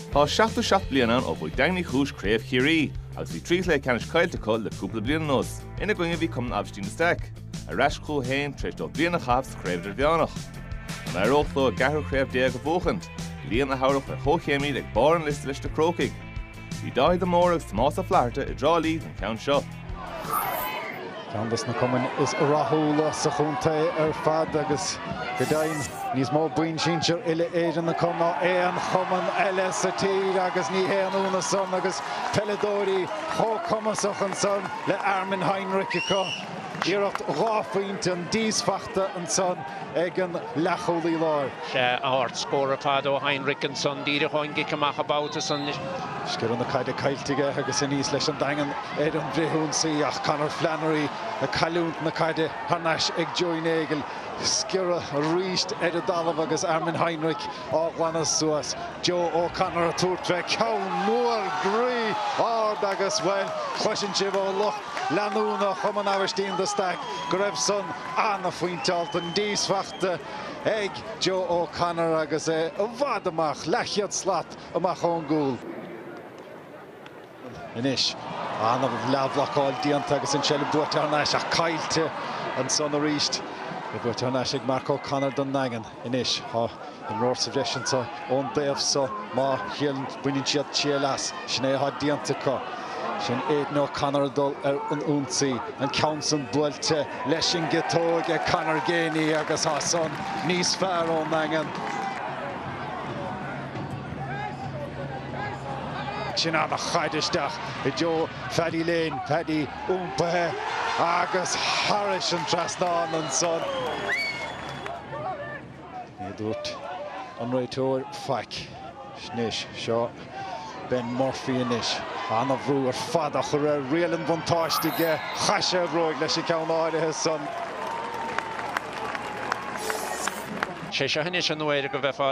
Tá 77 bliain ann ó bhuaigh Daingean Uí Chúis craobh Chiarraí agus bhí trí chluiche ceannais caillte acu le cúpla bliain anuas. Ina gcoinne a bhí Cumann Aibhistín de Staic, ar ais chucu féin tar éis dóibh bliain a chaitheamh sa Chraobh Idirmheánach. An éireodh leo a gceathrú craobh déag a bhuachaint, bliain a thabharfadh ar chomhchéim iad ag barr an liosta leis na Crócaigh? Bhí Dáithí de Mórdha agus Tomás Ó Flaithearta i dTrá Lí don cheann seo. Ceann dos na cumainn is rathúla sa chontae ar fad agus go deimhin níos mó boinn sinsir uile-Éireann acu ná aon chumann eile sa tír agus ní haon ionadh san agus peileadóirí chomh cumasach san le Armin Heinrich acu. Iarracht dhá phointe an d'aon iarracht ansan. ag an leathchúlaí láir. Sea, ardscór ar fad ó Heinrich ansan díreach ón gcic amach an babhta san. Sciorradh, an chaid caillte aige agus aníos leis an Daingean ar an bhfrithionsaí ach Conor Flannery ag cailliúnt na caide thar n-ais ag Joey Nagle. Sciorradh arís ar an dtalamh agus Armin Heinrich á ghlanadh suas. Joe O'Connor ag tabhairt fé cheann mór groí ard agus, bhuel, cloiseann sibh ó lucht leanúna Chumann Aibhistín de Staic go raibh san Ana-phointeáilte an díosfachta ag Joe O'Connor agus é i bhfad amach, leathchéad slat amach ón gcúl. Anois, ana-leathbhlocáil déanta agus an tseilbh buaite thar n-ais ach caillte ansan arís. Buaite thar n-ais ag Mark O'Connor don nDaingean. anois. Tá imreoir sa bhreis anseo ón dtaobh seo, más ea go mbaineann siad triail as. Sin é atá déanta acu. Sin Aidan O'Connor ag dul ar an ionsaí. An ceann san buailte leis an gciotóg ag Conor Geaney agus tá san níos fearr ón nDaingean. Sin ana-chaid isteach i dtreo Phaddy Lane. Paddy iompaithe agus thar an trasnán ansan. Ní dúirt an réiteoir faic. Anois, seo Ben Murphy anois. Ana-bhrú ar fad á chur air, riail an bhuntáiste aige. Chaith sé a bhróig leis an gceann áirithe san. 'Sé seo anois an uair go bheifeá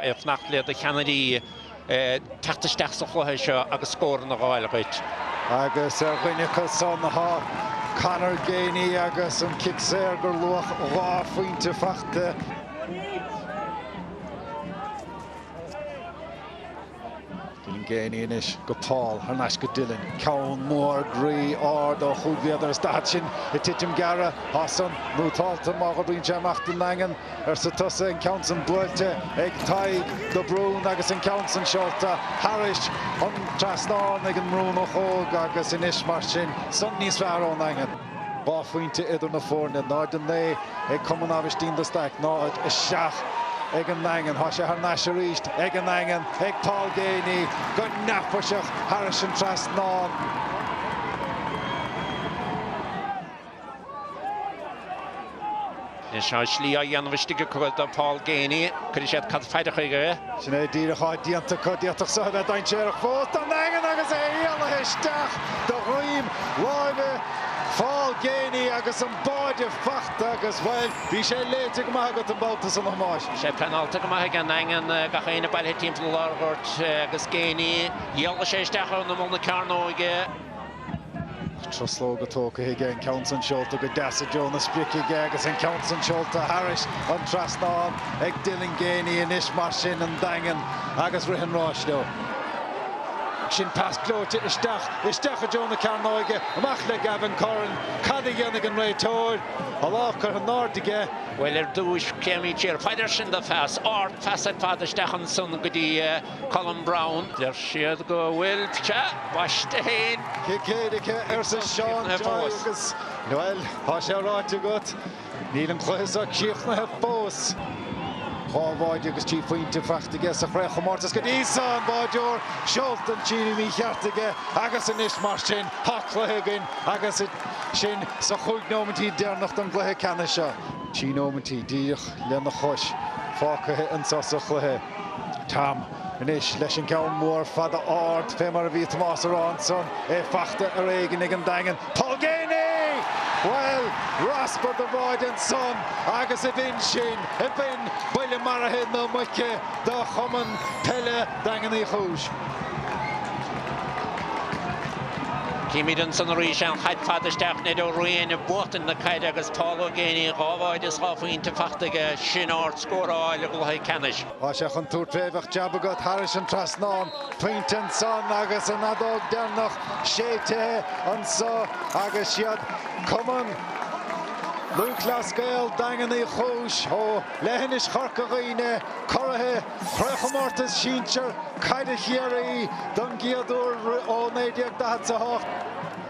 ag fanacht le do cheannairí. teacht isteach sa chluiche seo agus scóranna a dh'fháil duit. Agus ar dhuine acu san tá Conor Geaney agus an cic saor gur luach dhá phointe faighte. Dylan Geaney anois go Paul, thar n-ais go Dylan. Ceann mór groí ard ó chúig mhéadar is daichead sin ag titim gearra. Tá san mútálta má go mbíonn sé amach don nDaingean. Arsa tusa, an ceann san buailte ag Tadhg de Brún agus an ceann san seolta thairis an trasnán ag an mBrúnach óg agus anois mar sin san níos fearr ón nDaingean. Dhá phointe idir na foirne, 0-9 ag Cumann Aibhistín de Staic, 0-7 ag an nDaingean. Tá sé thar n-ais arís ag an nDaingean, ag Paul Geaney go neafaiseach thairis an trasnán. Is é an slí á dhéanamh istigh acu do Paul Geaney, cuirfidh siad caid fhada chuige. Sin é díreach atá déanta acu. D'fhéadfadh seo a bheith dainséarach fós don nDaingean agus é éalaithe isteach de dhroim láimhe Paul Geaney agus an báide fachta agus, bhuel, bhí sé léite go maith agat an babhta san, a Thomáis. Sé pleanálta go maith ag an nDaingean, gach éinne bailithe timpeall an lárghoirt agus Geaney, éalaigh sé isteach in imeall na cearnóige. Truslóga tógtha aige, an ceann san seolta go deas i dtreo na sprice aige agus an ceann san seolta thairis an trasnán ag Dylan Geaney anois mar sin an Daingean agus rith an ráis leo. Sin pas gleoite isteach, isteach i dtreo na cearnóige, amach le Gavin Curran, cad a dhéanfaidh an réiteoir? A lámh curtha in airde aige. Bhuel ar dtúis, téimís siar paidir sin do phas, ardphas ar fad isteach ansan go dtí, Colm Browne, Deir siad go bhfuil sé baiste féin. Cic éirice arsa Seán Tadhg agus. Bhuel, tá sé ráite agat. Níl an cluiche seo críochnaithe fós. Dhá bháide agus trí phointe fachta aige sa chraobhchomórtas go dtí seo. An báideoir seolta an tslí mhícheart aige agus anois mar sin tá cluiche againn agus sinn sa chúig nóimintí deireanach den gcluiche ceannais seo. Trí nóimintí, díreach lena chois, fágtha anseo sa chluiche. Tom anois leis an gceann mór fada ard, fé mar a bhí Tomás a rá ansan, é fachta ar éigin ag an Daingean, Paul Geaney! Bhuel, raspar de bháide ansan agus ab in sin, ab in buille maraithe na muice do Chumann Peile Daingean Uí Chúis. Címid ansan arís an chaid fada isteach, Ned Ó Riain ag buachtaint na caide agus Paul Geaney dhá bháide is dhá phointe fachta aige, sin ard scóráil i gcluiche ceannais. Tá sé chun tabhairt fé, bheadh jab agat thairis an trasnán, pointe ansan agus an fheadóg deireanach séidtithe anso agus is iad Cumann Lúthchleas Gael, Daingean Uí Chúis ó leithinis Chorca Dhuibhne, curaithe Chraobhchomórtas Sinsear Caide Chiarraí don gcéad uair ó 1948.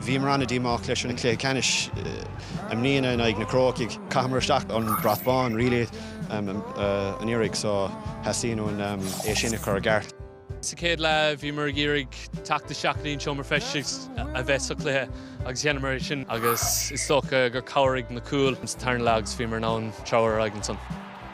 Bhíomar an-díomách leis an chluiche ceannais i mbliana in aghaidh na Cróicigh. Chaitheamar isteach an brat bán really an iarraidh so theastaíonn uainn é sin a chur i gceart. Sa chéad leath bhíomar ag iarraidh teacht isteach go dtí an seomra feistis a bheith sa chluiche agus dheineamar é sin agus is dócha gur chabhraigh na cúil sa tarna leath agus bhíomar in ann treabhadh ar aghaidh ansan.